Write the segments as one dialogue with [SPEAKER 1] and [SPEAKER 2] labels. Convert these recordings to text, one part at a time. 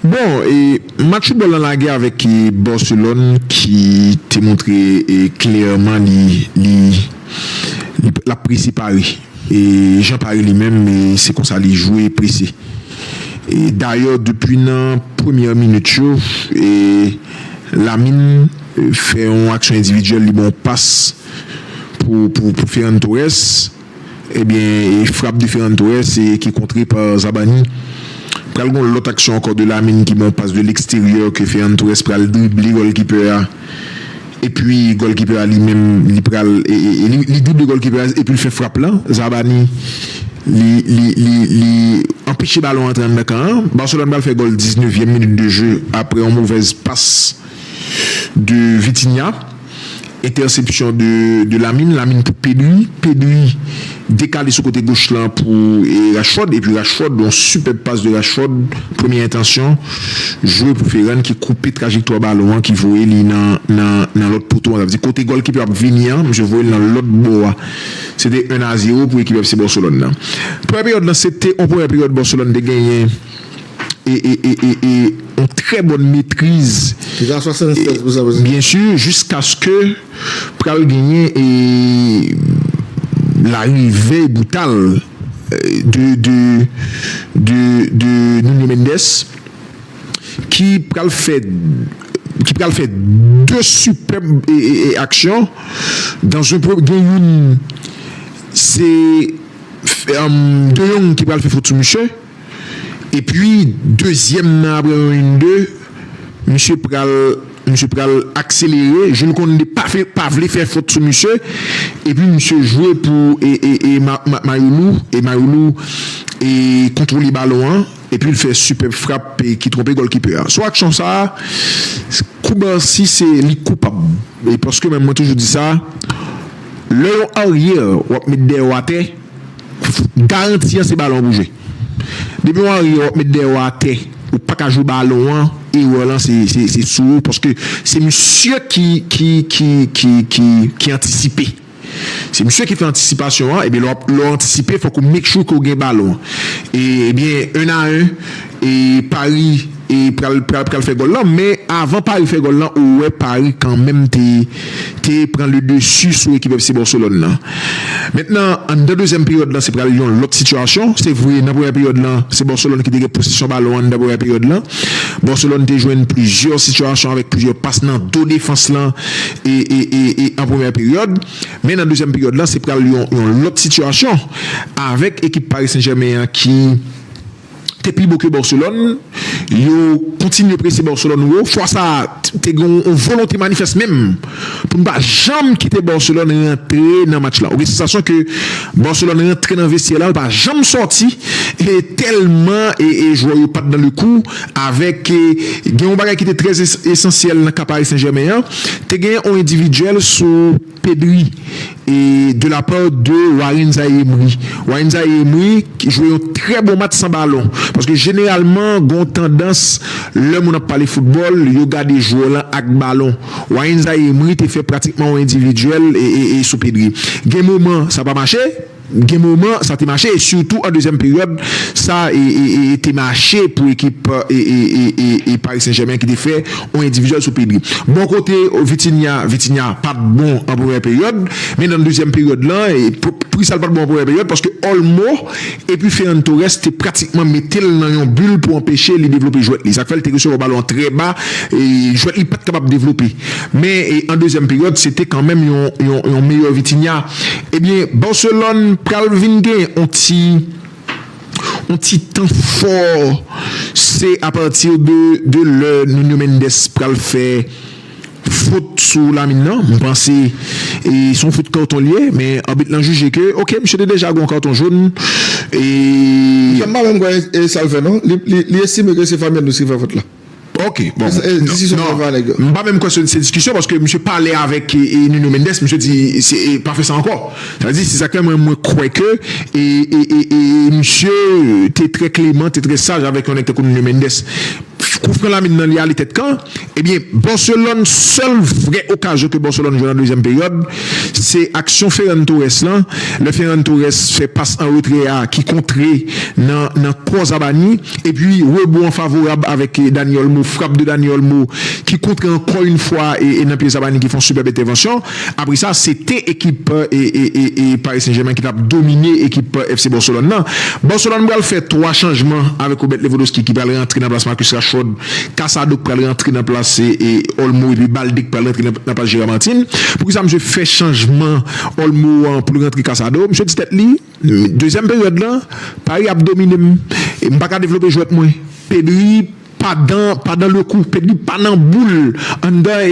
[SPEAKER 1] Bon, match foutbòl lan lage avèk Barcelone ki te montre klèman li lap prese Paris jan Paris li menm se konsa li jwe prese. Dayè depi nan premyè minit yo Lamine fè yon aksyon endividyèl li ba yon pas pou Ferran Torres. Ebyen Frappe Différentes Torres e ki kontre pa Zabarni. Pral gon lòt aksyon ankò de Lamine ki bon pas de l'extérieur ke Ferran Torres pral drible gòlkipè a epi gòlkipè a li menm li pral li drible gòlkipè a epi li fè frap lan Zabarni li li li li anpeche balon antre anndan kan an Barcelone pral fè gòl 19 vyèm minit de jeu aprè yon movèz pas de Vitinha, entèsepsyon de Lamine, Lamine pou Pedri, Pedri dekale sou kote goch lan pou Rashford epi Rashford yon sipèb pas de Rashford premye entansyon jwe pou Ferran ki koupe trajektwa balon an ki voye li nan lòt poto an sa vle di kote gòlkipe ap vini an misye voye l nan lòt bò a se te 1 a 0 pou ekip FC Barcelone nan premyè peryòd lan se te yon premyè peryòd Barcelone te genyen. yon trè bòn metriz, byen si, jiskaske pral genyen larive brital de Nuno Mendes ki pral fè 2 sipèb aksyon, gen youn se De Jong ki pral fè fot sou misye. Epi dezyèm nan apre yon in de misye pral misye pral akselere Jules Condé pa fè pa vle fè fot sou misye epi misye jwe pou e Mayoulou e Mayoulou e kontwole balon an epi l fè sipèb frap ki twonpe gòlkipè a sou aksyon sa Cubarsí se li koupab paske mwen toujou di sa lè yon aryè wap met dèyè w atè. Garanti an se balon an pou jwe. Depi ou anriye wap met dèyè ou atè ou paka jwe balon an erè lan se sou ou paske se misye ki antisipe se misye ki fè antisipasyon an ebyen lè ou antisipe fòk ou make sure ke ou gen balon an ebyen 1 a 1 Paris pral pral fè gòl lan men avan Paris fè gòl lan ou wè Paris kanmenm te te pran le dessus sou ekip FC Barcelone lan. Mentnan anndan dezyèm peryòd lan se pral yon lòt sitiyasyon. Se vre nan premyè peryòd lan se Barcelone ki te gen posesyon balon anndan premyè peryòd lan. Barcelone te jwenn plizyè sitiyasyon avèk plizyè pas nan do defans lan e e e e an premyè peryòd. Men nan dezyèm peryòd lan se pral yon yon lòt sitiyasyon avèk ekip Paris Saint Germain an ki te pi bo ke Barcelone, yo kontinye prese Barcelone wo, fwa sa a te gen yon volonte manifès menm pou n pa janm kite Barcelone rantre nan match la, ou gen sansasyon ke Barcelone rantre nan vestyè la l pa janm sòti tèlman jwè yo pat dan le kou avèk gen yon bagay ki te trè esansyèl nan ka Paris Saint Germain an, te gen yon endividyèl sou. Pedri e de la part de Warren Zaïre Emery. Warren Zaïre Emery jwe yon trè bon match san balon. Paske jeneralman gen yon tandans lè moun ap pale foutbòl, yo gade jwè w lan ak balon. Warren Zaïre Emery te fè pratikman yon endividyèl sou Pedri. Gen moman sa pa mache. Gen moman sa te mache e sitou an dezyèm peryòd sa te mache pou ekip Paris Saint Germain ki te fè yon endividyèl sou Pedri. Bò kote Vitinha, Vitinha pat bon an premyè peryòd men nan dezyèm peryòd la, poukisa l pat bon an premyè peryòd paske Olmo epi Ferran Torres te pratikman mete l nan yon bul pou anpeche li devlope jwèt li sa k fè l te resevwa balon an trè ba jwèt li pat kapab devlope men an dezyèm peryòd se te kanmenm yon meyè Vitinha. Ebyen Barcelone pral vin gen yon ti yon ti tan fò se apati de lè Nuno Mendes pral fè fot sou Lamine nan, m panse son fout karton li ye men abit lan jije ke ok misye te deja gen yon karton jaune e. Misye m pa menm kwè
[SPEAKER 2] e sal fè non, li estime ke se Fabian Ruiz ki fè fot la. Ok
[SPEAKER 1] bon m pa menm kwè se diskisyon paske misye pale avèk Nuno Mendes misye di pa fè sa ankò sa vle di se sa k fè mwen mwen kwè ke e misye te trè kleman te trè saj avèk yon nèg tankou Nuno Mendes kou fran lamin nan li ale tèt kan ebyen Barcelone sèl vrè okazyon ke Barcelone jwenn nan dezyèm peryòd se aksyon Ferran Torres lan lè Ferran Torres fè pas an retrè a ki kontre nan kò Zabany. Epi rebond an favorab avèk Dani Olmo, frap de Dani Olmo ki kontre ankò yn fwa nan pye Zabarni ki fè yon sipèb entèvansyon. Apre sa se te ekip Paris Saint Germain ki tap domine ekip FC Barcelone nan. Barcelone pral fè 3 chanjman avèk Robert Lewandowski ki pral rantre nan plas Marcus Rashford, Casado k pral rantre nan plas Olmo epi Balde k pral rantre nan plas Gerard Martin. Poukisa misye fè chanjman Olmo an poul rantre Casado? Misye di tèt li. Dezyèm peryòd la, Paris ap domine m e m pa ka devlope jwèt mwen. Pedri pa dan pa dan le kou, Pedri pa nan boul anndan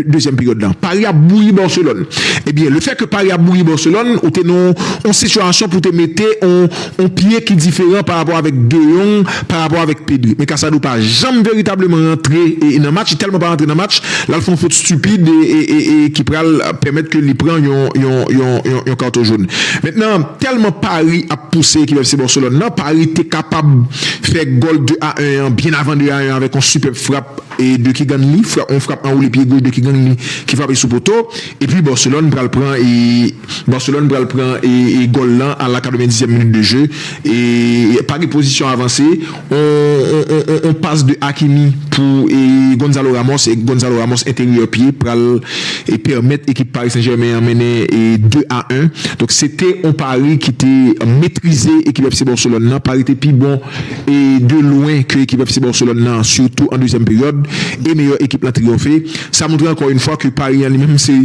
[SPEAKER 1] dezyèm peryòd la. Paris ap bouyi Barcelone. Ebyen, le fè ke Paris ap bouyi Barcelone, ou te nan yon sitiyasyon pou te mete yon pye ki diferan parapò avèk De Jong. pa rapò avèk Pedri. Men Casado pa janm veritableman rantre nan match, li tèlman pa rantre nan match, l al fè yon fot stupid e ki pral pèmèt ke li pran yon karton jaune. Mentnan, tèlman Pari ap pouse ekip FC Barcelone nan, Pari te kapab fè gòl 2 a 1 an byen avan 2 a 1 an avèk yon sipèb frap de Keegan Lee, yon frap anwoule pye goch de Keegan Lee ki frape sou poto, epi Barcelone pral pran. Barcelone pral pran gòl lan a la 90 zièm minit de je e Paris pozisyon avanse on pas de Hakimi pou Gonzalo Ramos e Gonzalo Ramos enteryè pye pral pèmèt ekip Paris Saint Germain an mennen 2 a 1 donk se te on Paris ki te metrize ekip FC Barcelone lan Paris te pi bon de lwen ke ekip FC Barcelone lan sitou an dezyèm peryòd e meyè ekip lan triyonfe sa montre ankò yn fwa ke Paris an li menm se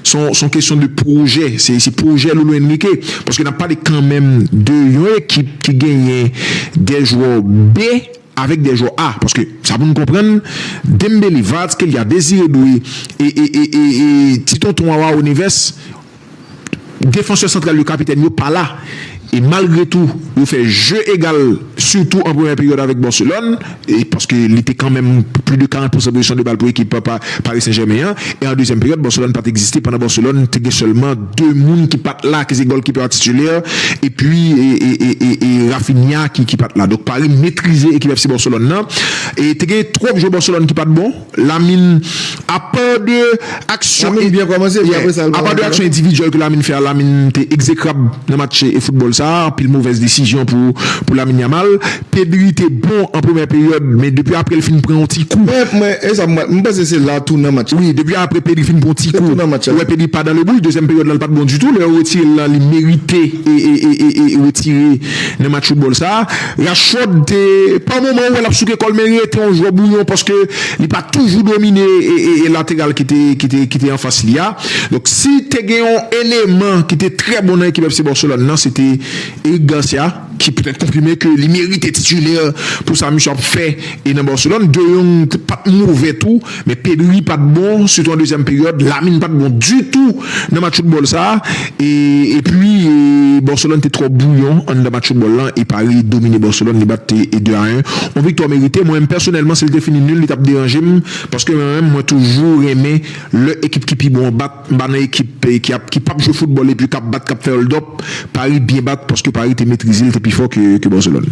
[SPEAKER 1] Son kesyon de pwojè, se pwojè Lolo Enrique paske nap pale kanmenm de yon ekip ki genyen 2 jwè B avèk 2 jwè A paske sa pou nou konprann Dembele, Kvaratskhelia, Désiré Doué e ti tonton Awaw Neves defansè santral yo kapitèn yo pa la. E malgre tou yo fè jeu egal sitou an premyè peryòd avèk Barcelone e paske li te kanmenm pli de 40 pousan pozisyon de bal pou ekip Paris Saint Germain an e an dezyèm peryòd Barcelone pat egziste pandan Barcelone te gen sèlman 2 moun ki pat la ki se gòlkipè a titulè epi e Raphinha ki pat la donk Paris metrize ekip FC Barcelone nan e te gen twòp jwè Barcelone ki pat bon. Lamin, Apa
[SPEAKER 2] de aksyon
[SPEAKER 1] endividyèl ke Lamin fè a, Lamin te egzekrab nan match foutbòl sa a, anpil movèz desizyon pou Lamin Yamal. Pedri te bon an premyè peryòd, men depi apre li fin pran yon ti kou.
[SPEAKER 2] Wi, depi apre Pedri fin
[SPEAKER 1] pran yon ti kou, ou wè Pedri pa dan le bouch, dezyèm peryòd la li pa t bon ditou, lè yo retire l la li merite retire nan match foutbòl sa a. Rashford te pa moman ou wè lap souke kòl men rete yon jwè bouyon paske li pa toujou domine lateral ki te anfas li a. Donk si te gen yon eleman ki te trè bon nan ekip FC Barcelone nan se te Eric Garcia ki petèt konfime ke li merite titulaire pou sa misye ap fè nan Barcelone. De Jong pat move tou. Men Pedri pa t bon, sitou an dezyèm peryòd, Lamine pa t bon ditou nan match foutbòl sa a e epi Barcelone te twò bwouyon anndan match foutbòl lan e Paris domine Barcelone li bat 2 a 1. On viktwa merite, mwen menm pèsonèlman si l te fini nul li t ap deranje m paske mwen menm mwen toujou renmen lè ekip ki pi bon an bat, m pa nan ekip ki ap ki p ap jwe foutbòl epi k ap bat k ap fè hold up, Paris byen bat paske Paris te metrize l te pi fò ke Barcelone.